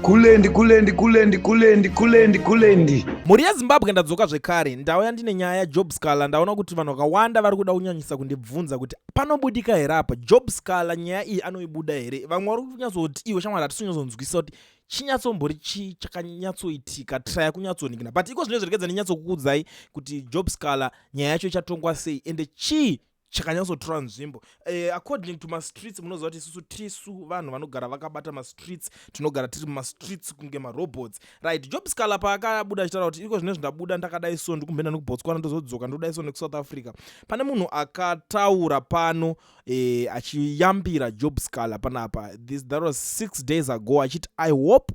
kulendi kulendi kulendi kulendi kulendi kulendi mhuri yezimbabwe ndadzoka zvekare ndauya ndine nyaya yajob scala ndaona kuti vanhu vakawanda vari kuda kunyanyisa kundibvunza kuti panobudika here apa job scala nyaya iyi anoibuda here vamwe vari kunyatsoti iwe shamwari hatisinyazonzwisisa kuti chinyatsombori chii chakanyatsoitika traya kunyatsonikina but iko zvino zviregedza ndinyatsokukudzai kuti job scala nyaya yacho ichatongwa sei ende chii chakanyatsotora nzvimbo eh, according to mastreets munoziva kuti isusu tisu vanhu vanogara vakabata mastreets tinogara tiri mumastreets kunge marobots right job scala paakabuda achitaura kuti iko zvine zvindabuda ndakadai so ndikumhenda nekubotswana ndozodzoka ndodai so nekusouth africa pane munhu akataura pano eh, achiyambira job scala panapa this that was six days ago achiti i hope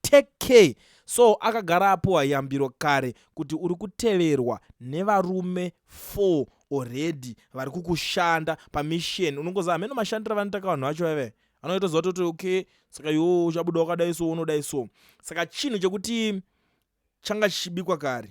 Take care so akagara apuwa yambiro kare kuti uri kuteverwa nevarume four already vari kukushanda pamisheni unongoza hameno mashandiro avanoita ka vanhu vacho vaive anoita zuva toti okay saka iwo uchabuda wakadai so unodai so saka chinhu chekuti changa chichibikwa kare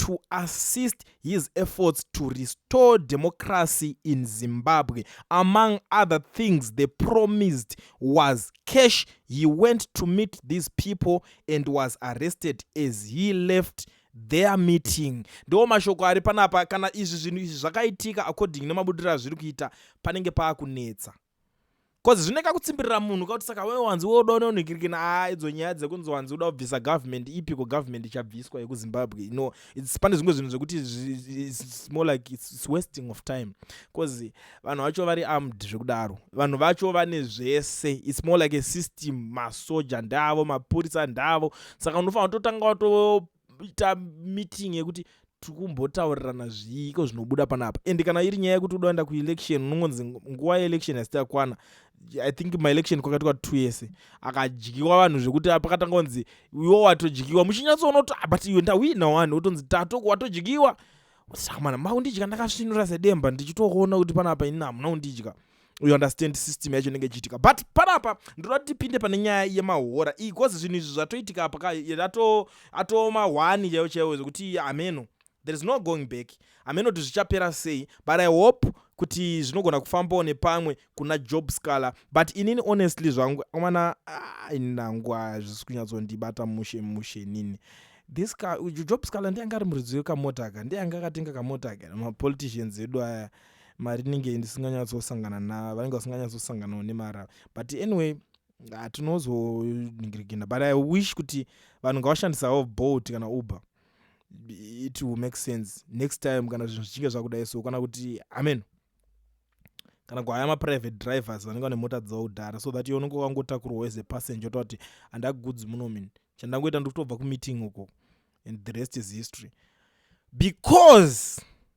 to assist his efforts to restore democracy in Zimbabwe. Among other things they promised was cash. He went to meet these people and was arrested as he left their meeting ndiwo mashoko ari panapa kana izvi zvinhu izvi zvakaitika according nemabudiro azviri kuita panenge paakunetsa cause zvine kakutsimbirira munhu kakuti saka wewe wanzi woda unonhikirikina aa ah, idzo nyaya dzekunzi wanzi uda kubvisa government ipi ko government ichabviswa yekuzimbabwe you know its pane zvimwe zvinhu zvekuti its more like its wasting of time cause vanhu vacho vari armed zvekudaro vanhu vacho vane zvese its more like a system masoja ndavo mapurisa ndavo saka unofanira kutotanga wato ita meeting yekuti tikumbotaurirana zviiko zvinobuda panapa and kana iri nyaya yekuti udaenda kuelection unongonzi nguva yeelection hasiti yakwana i think maelection kwakati kwati two yese akadyiwa vanhu zvekuti pakatanga kunzi iwo watodyiwa muchinyatsoonoto ah, but iwe ndawina wani wotonzi tatoko watodyiwa sakamana maundidya ndakasvinura sedemba ndichitoona kuti panapa ini hamuna undidya you understand system yacho inenge ichiitika but panapa ndoda kuti tipinde pane nyaya yemahora iyi bcause zvinhu izvi zvatoitika apa ka atooma hwani chaiwo chaiwo zvekuti hameno there is no going back hameno kuti zvichapera sei but i hope kuti zvinogona kufambawo nepamwe kuna job scaler but inini honestly zvangu mwana ah, ini nangu hazvisi kunyatsondibata mushe mushe nini this ka job scaler ndianga ari muridzi wekamota ka ndianga akatenga kamota ka mapoliticians edu aya ah, mari inenge ndisinganyatsosangana na vanenge vasinganyatsosanganawo nemara but anyway hatinozoningirigina but i wish kuti vanhu ngavashandisawo bolt kana uber it will make sense next time kana zvinhu zvichinge zvakudai so kana kuti amen kana kuhaya maprivate drivers vanenge vane mota dzavo kudhara so that unenge wakangotakurwawo as a passenger otaura kuti handagudzi muno min chandangoita ndikutobva kumeeting uko and the rest is history because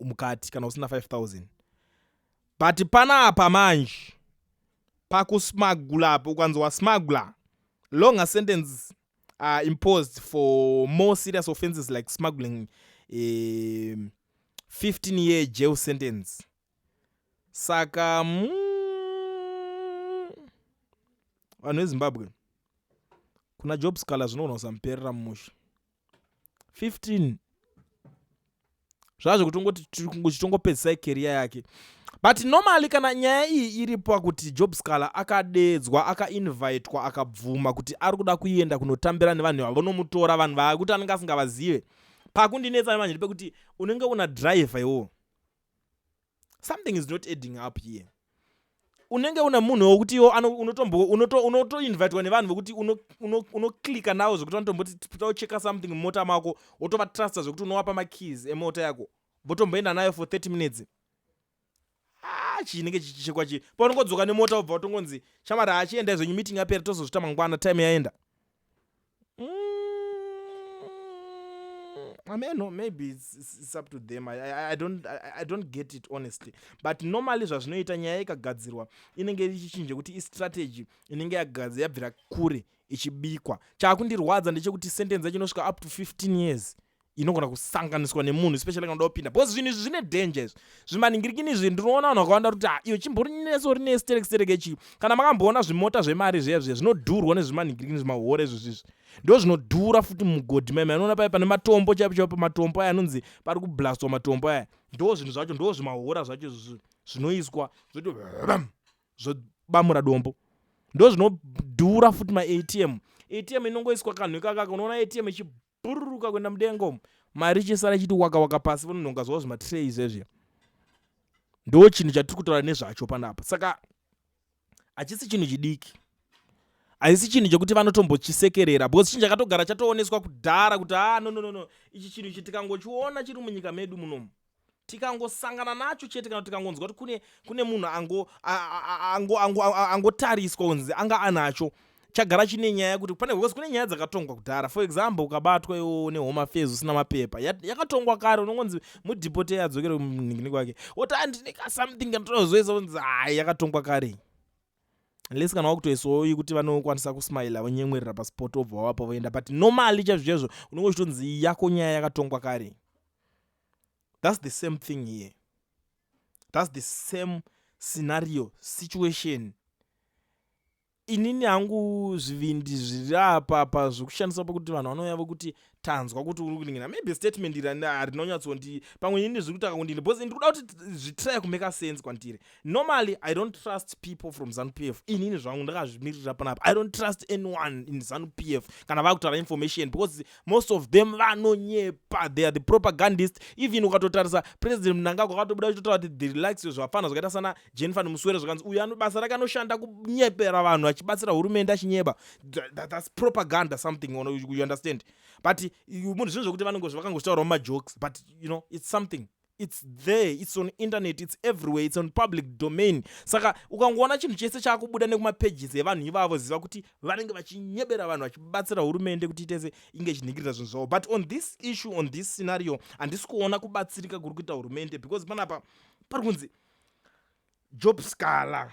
mukati kana usina 5000 but panapa manje pakusmagula apo ukanzi wasmagula longer sentence are imposed for more serious offenses like smuggling eh, 15 year jail sentence saka mm, vanhu vezimbabwe kuna job scaler zvinogona kusamuperera mumusha 15 zvazvo kutongoti tichitongopedzisai keriya yake but normally kana nyaya iyi iri pakuti job scaler akadeedzwa akainvitwa akabvuma kuti ari kuda kuenda kunotambira nevanhu vavanomutora vanhu vakuti anenge asingavazive pakundinetsa nemanje ndipekuti unenge una driver iwowo something is not adding up here unenge una munhu wokuti iwo unotoinvitwa unoto, unoto nevanhu vokuti unoclicka uno, uno navo zvekuti vanotomboti tocheka something mumota mako wotovatrusta zvekuti unowapa makeys emota yako votomboenda nayo for 30 minutes ah, chinenge chichichekwa chii paunongodzoka nemota wobva utongonzi shamari hachiendai zvenyu meeting yapera tozozvita mangwana time yaenda Mm, I mean, no, maybe it's, it's up to them. I, I, I don't I, I don't get it honestly. But normally zvazvinoita nyaya ikagadzirwa inenge ichichinja kuti istrategy inenge yagadzira yabvira kure ichibikwa. Chakundirwadza ndechekuti sentence yacho inosvika up to 15 years. inogona kusanganiswa nemunhu especially kana uda kupinda because zvinhu izvi zvine danger izvi zvimaningirikini izvi ndinoona vanhu vakawanda kuti ah, iyo chimborinetso rine sterek sterek ichi kana makamboona zvimota zvemari zviya zviya zvinodhurwa nezvimaningirikini zvimahore izvi zvizvi ndo zvinodhura futi mugodhi maima anoona paye pane matombo chaipo chaipo matombo aya anonzi pari kublastwa matombo aya ndo zvinhu zvacho ndo zvimahora zvacho izvi zvinoiswa zvoti zvobamura dombo ndo zvinodhura futi maatm atm inongoiswa kanhu ikakaka unoona atm ichi bhururuka kuenda mudenga umu mari ichinsara ichiti waka waka pasi vanonhonga zvavo zvimatirei izvezvi ndo chinhu chatiri kutaura nezvacho panapa saka hachisi chinhu chidiki haisi chinhu chekuti vanotombochisekerera because chinhu chakatogara chatooneswa kudhara kuti haa ah, no no no no ichi chinhu ichi tikangochiona chiri munyika medu munomu tikangosangana nacho chete kana tikangonzwa kuti kune kune munhu angotariswa kunzi anga anacho chagara chine nyaya kuti pane because kune nyaya dzakatongwa kudhara for example ukabatwa iwo nehome affairs usina mapepa yakatongwa kare unongonzi mudhipoteya adzokere kumningini kwake woti andine ka something kanotozoisa kunzi hai yakatongwa kare unless kana wakutoisawo yekuti vanokwanisa kusmaila vonyemwerera paspot obva wavapo voenda but normally chaizvo chaizvo unonge uchitonzi yako nyaya yakatongwa kare thats the same thing here thats the same scenario situation inini hangu zvivindi zviri apa pa zvekushandisa pakuti vanhu vanouya vokuti tanzwa kuti uri kuningina maybe statement iri harinonyatsondiyi pamwe ini ndiri kutaka kundini because ndiri kuda kuti zvitraya kumeka sense kwandiri normally i don't trust people from zanu p f inini zvangu ndakazvimirira panapa i don't trust anyone in zanu p f kana vakutaura information because most of them vanonyepa they are the propagandist even ukatotarisa president mnangagwa akatobuda uchitotaura kuti the relaxio zvafana zvakaita sana jennifer nemuswere zvakanzi uyo anobasa rake anoshanda kunyepera vanhu achibatsira hurumende achinyeba thats propaganda something you understand but munhu zvinhu zvekuti vanongozvakangoshitaurawo majokes but you know it's something its there its on internet its everywhere its on public domain saka ukangoona chinhu chese chaakubuda nekumapages evanhu ivavo ziva kuti vanenge vachinyebera vanhu vachibatsira hurumende kuti itese inge ichinhingirira zvinhu zvavo but on this issue on this scenario handisi kuona kubatsirika kuri kuita hurumende because panapa pari kunzi job scala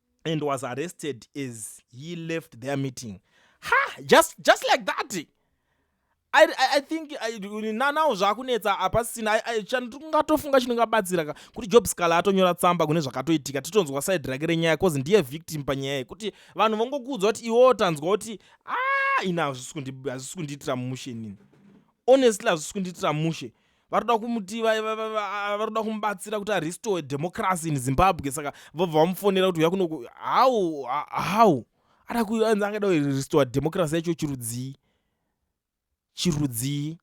and was arrested as he left their meeting ha just, just like that I, I, I think nanawo zvakunetsa apasina tingatofunga chinongabatsira ka kuti job scala atonyora tsamba kune zvakatoitika titonzwa side rake renyaya cause ndiye victim panyaya iyi kuti vanhu vongokuudzwa kuti iwewo tanzwa kuti a ah, ina hazvisi kundiitira mushe nini honestly hazvisi kundiitira mushe vari kuda kumuti vari kuda kumubatsira kuti arestore democracy in zimbabwe saka vobva vamufonera kuti uya kunoku how how ada kuanzi angada kurestore democracy yacho chirudzii chirudzii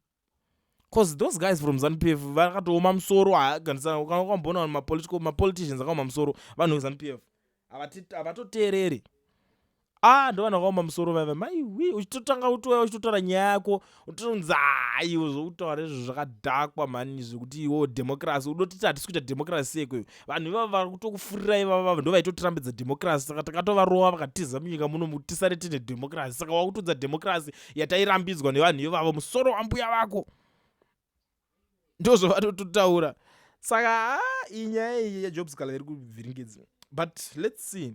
bcause those guys from zanupf vakatooma musoro haagandisana kana ukamboona vanhu mapolitical mapoliticians akaoma musoro vanhu vezanupf havatoteereri ah ndovana vakaoma musoro vaiva maiwi uchitotanga utouya uchitotaura nyaya yako utotonzi hayi uzoutaura izvo zvakadhakwa mhani zvekuti iwo democracy udotiti hatisi kuita democracy seko iyo vanhu ivavo vari kutokufurira ivavavo ndo vaitotirambidza democracy saka takatovarova vakatiza munyika muno tisare tine democracy saka wakutudza democracy yatairambidzwa nevanhu ivavo musoro wambuya vako ndozvavatototaura saka ah, iyi nyaya iyi yajob scala iri kuvhiringidza but let's see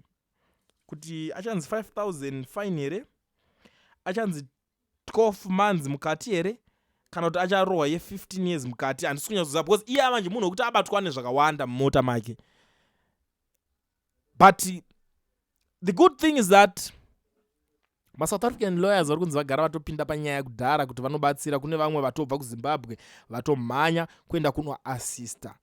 kuti achanzi 5000 fine here achanzi 12 months mukati here kana kuti acharohwa ye15 years mukati handisi kunyatsoziva because iye amanje munhu wekuti abatwa nezvakawanda mumota make but the good thing is that masouth african lawyers vari kunzi vagara vatopinda panyaya kudhara kuti vanobatsira kune vamwe vatobva kuzimbabwe vatomhanya kuenda kunoassista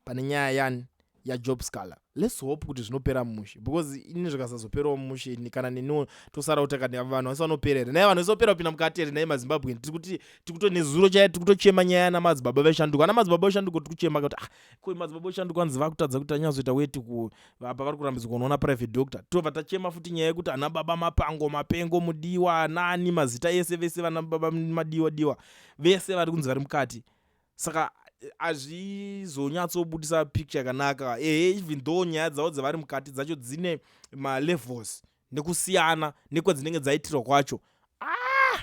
pane nyaya yani yajob scaler lets hope kuti zvinopera mushe because ini zvikasazoperawo mushe ini kana neniwo tosara kuti kani ava vanhu vese vanopera here naye vanhu vese vopera kupinda mukati here naye mazimbabwe tiri kuti tiri kuto nezuro chaiye tiri kutochema nyaya yana madzibaba veshanduka ana madzibaba veshanduka tiri kuchema kuti ah koi madzibaba veshanduka hanzi vakutadza kuti anyazoita weti ku vapa vari kurambidzwa kunoona private doctor tobva tachema futi nyaya yekuti ana baba mapango mapengo mudiwa nani mazita ese vese vana baba madiwa diwa vese vari kunzi vari mukati saka azvizonyatsobudisa picture yakanaka ehe even though nyaya dzavo dzavari mukati dzacho dzine malevels nekusiyana nekwadzinenge dzaitirwa kwacho ah!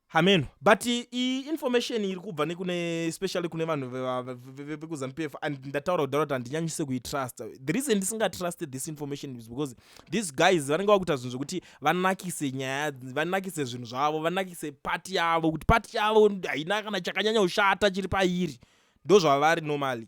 hameno but iyi information iri kubva nekune especially kune vanhu vekuzanupf and ndataura kudhara kuti handinyanyise kuitrust the reason ndisingatrust this information is because these guys vanenge vakuita zvinhu zvekuti vanakise nyaya vanakise zvinhu zvavo vanakise pati yavo kuti pati yavo haina kana chakanyanya kushata chiri pairi ndozvavari normally